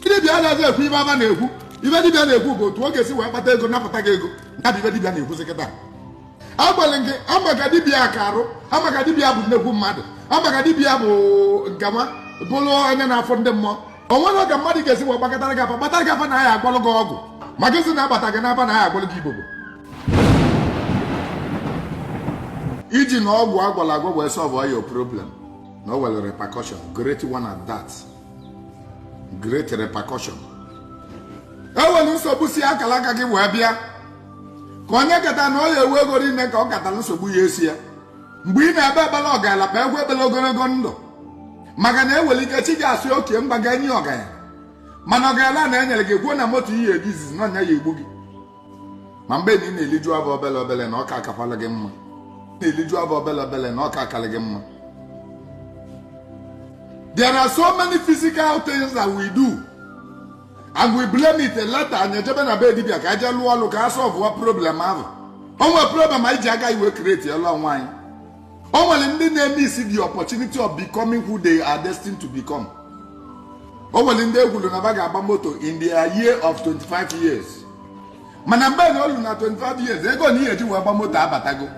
dibịa anaghị ekwu ife afa na-ekwu ife dibịa na-ekwu bụ otu ọ ga-esi wee kpata ego napụta gị ego ya bụ ife dibịa na-ekwuzi kịta agbalị gị amaka dibịa aka arụ amaka dibịa bụ nnekwu mmadụ amaka dibịa bụ nkanwa bụrụ onye na-afụ ndị mmụọ o nwerọ ka mmadụ ga-esi wee gbakọtara gị afa gbatara gị afa na aya agwọlụ gị ọgwụ maka isi na-agbata gị n'afa na aya agwọlụ gị ibobo iji na ọgwụ agwọlụ agwọ wee solve all your problem na o nwere repercussion great one at that great repercussion enwere nsogbu si akara aka gị wee bịa ka onye kata na ọ ya enwe ego ime ka ọ katara nsogbu ya esi ya mgbe ị na-ekpe ekpele ọgaranya kpekwu ekpele ogologo ndụ maka na enwere ike chi gị asị okay m ga-enye ya ọgaranya mana ọgaranya nụ enyere gị ekwuo na moto ị ya eji izizi na ọ nya ya egbu gị ma mgbe na ị na-eliju afọ obele obele na ọ ka akakwala gị mma na-eliju afọ obele obele na ọ ka akala gị mma there are so many physical things that we do and we blame it later anyị ejebe na be dibịa ka eje lụọ ọlụ ka a solve-wa problem ahụ o nwe problem anyị ji aka anyị wee createlụ onwe anyị o nwere ndị na-emiss the opportunity of becoming who they are destined to become o nwere ndị ekwuru na fa ga-agba moto in the year of 25 years mana mgbe na o lu na 25 years ego nụ ị ya eji wee gba moto abatago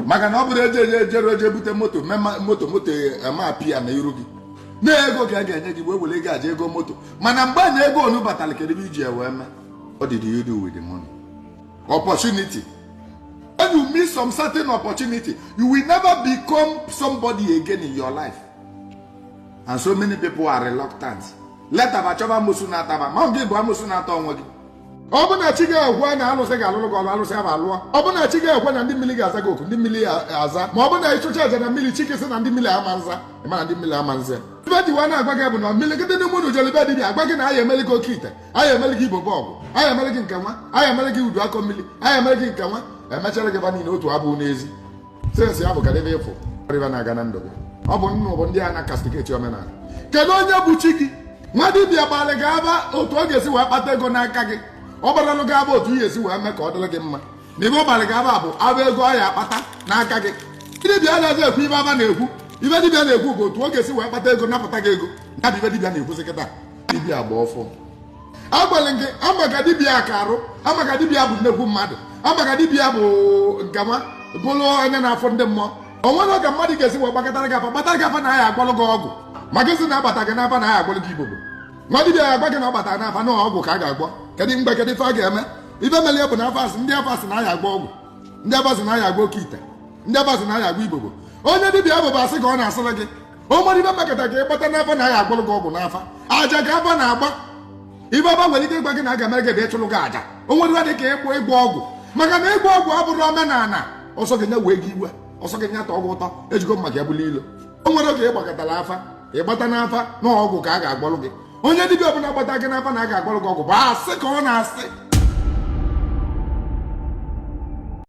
maka na ọ bụrọ eje eje ejere eje bute moto mee ma- moto moto ama appear na iru gị na ego ka a ga-enye gị wee were ego je ego moto mana mgbe na ego ọnụ batara kedụ ife iji ya wee mee what did you do with the money opportunity when you miss some certain opportunity you will never become somebody again in your life and so many people are reluctant later fa achọba amosu na-ata fa ma ọ gị bụ amosu na-ata onwe gị ọ bụ na chi gị ekwe na alụsị ga-alụrụ gị ọrụ alụsị afụ alụọ ọ bụ na chi gị ekwe na ndị mmiri ga-aza gị oku ndị mmiri aza ma ọ bụ na ịchụcha aja na mmiri chi gị sị na ndị mmiri ama nza ịma na ndị mmiri ama nza ife m ji wee na-agwa gị bụ na imirikiti n'ime unu jere be dibịa agwa gị na aya emeli gị oke ite aya emere gị ibobo ọgwụ aya emere gị nke nwa aya emere gị udu akọ mmiri aya emere gị nke nwa emechara gị fa niile otu afụ n'ezi sensị ya bụ ka debe ịfụ rịba na-aga na ndụ gị ọ bụ unu bụ ndị na-acastigate omenala kedu onye bụ chi gị nwa dibịa gbalị gị afa otu ọ ga-esi wee kpata ego n'aka gị ọ gbarọlụ gị afa otu ị ya esi wee mee ka ọ dịrị gị mma na ife ọ gbalị gị afa bụ afa ego ọ ya akpata n'aka gị dibịa anaghị ekwu ife afa na-ekwu ife dibịa na-ekwu bụ otu ọ ga-esi wee kpata ego napụta gị ego ya bụ ife dibịa na-ekwuzi kịta dibịa agba ọfọ agbalị gị amaka dibịa aka arụ amaka dibịa bụ nnekwu mmadụ amaka dibịa bụ nkanwa bụrụ onye na-afụ ndị mmụọ o nwerọ ka mmadụ ga-esi wee gbakọtara gị afa gbatara gị afa na aya agwọlụ gị ọgwụ maka isi na-agbata gị n'afa na aya agwọlụ gị ibobo nwa dibịa ya agwa gị na ọ gbatara n'afa na ọgwụ ka a ga-agwọ kedu mgbe kedu ife a ga-eme ife mere ya bụ na afa sị ndị afa sị na aya agwọ ọgwụ ndị afa sị na aya agwọ oke ite ndị afa sị na aya agwọ ibobo onye dibịa afụ bụ asị ka ọ na-asịrị gị o nwerọ ibe mekọta ka ịgbata n'afa na a ya-agwọlụ gị ọgwụ n'afa aja ka afa na-agba ibe afa nwere ike ịgwa gị na a ga-emere gị ebe ịchụrụ gị aja o nwerọ ibe dị ka ịgwọ ịgwọ ọgwụ maka na ịgwọ ọgwụ abụrọ omenala ọ sọ gị nya wee gị iwe ọ sọ gị nya tọọ gị ụtọ ejigo maka ya bụla ilo o nwerọ oge ịgbakọtara afa ịgbata n'afa na ọgwụ ka a ga-agwọlụ gị onye dibịa ọbụla gbata gị n'afa na a ga-agwọlụ gị ọgwụ bụ asị ka ọ na-asị